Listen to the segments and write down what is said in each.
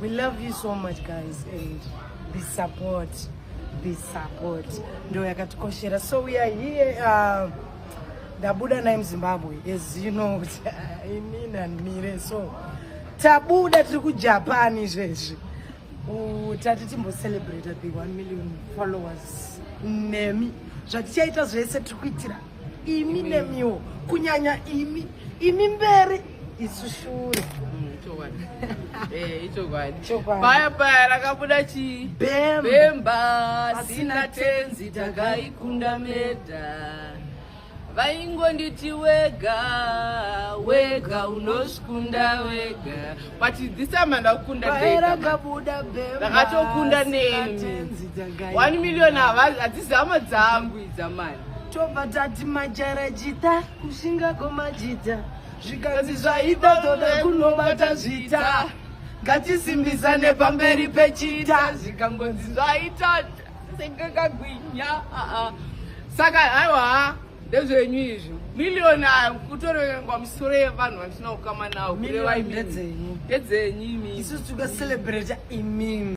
We love you so much guys and be support be support ndo yakatikoshera so we are here uh, ndabuda naye muzimbabwe as you know kuti uh, ini nanmire so tabuda tiri kujapan izvezvi tati timbocelebrate the one million followers nemi zvatichaita zvese tiri kuitira imi nemiwo kunyanya imi imi mberi isu shure paya paya rakabuda chii bemba sina tenzi takaikunda meda vaingonditi wega wega unoskunda wega but this time andakundadakabuda bemba neni 1 million hadzizama dzangu idzamani tobva tati majara jita kushinga komajita zvikanzi zvaita toda kunobata zvita ngatisimbisane pamberi pechita zvikangonzi zvaita sekakagwinya saka haiwa ndezvenyu izvi million ayo kutorengwa misoro yevanhu vasina kukama nawo kureva imii ndedzenyu imii isu tikacelebrata imimi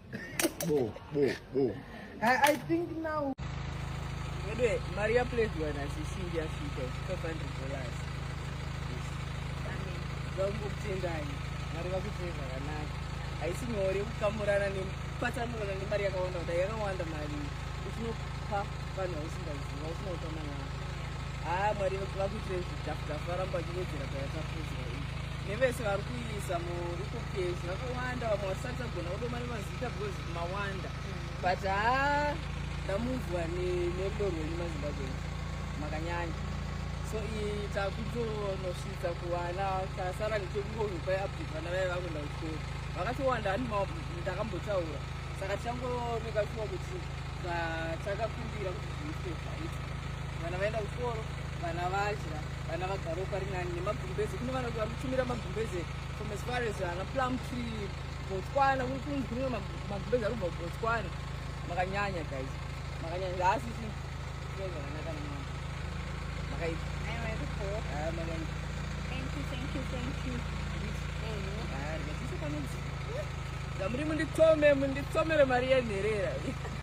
I, think now Anyway, Maria played one as you see their feet of 500 dollars. Vakutendai, Mari vakutenda zvakanaka. Haisi nyore kukamurana nepatsanurana nemari yakawanda kudai yakawanda mari uchinopa vanhu vausingaziva usina kutama navo. Haa Mwari vakutenda zvidhafu dhafu varamba vachiwedzera payakapozwa. Nevese vari zamo ikuke zvakawanda vamwe vasati tagona kudoma nemazita because mawanda mm. but haa ndamunzwa nerudo rwenyu mazimbabwe makanyanya so iyi takutonosvitsa kuvana tasara ndichekungozvopai update vana vaye vakuenda kuchikoro vakatowanda ani ndakambotaura saka tichangooneka shuwa kuti takakumbira kuti zviitwe zvaita vana vaenda kuchikoro vana vadya vana vagaro pari nani nemagumbeze kune vana vanotumira magumbeze from as far as ana plum tree botswana kunzi kune magumbeze ari kubva kubotswana makanyanya guys makanyanya haasi zvakanaka namama makaipa muri munditsome munditsomere mari yenherera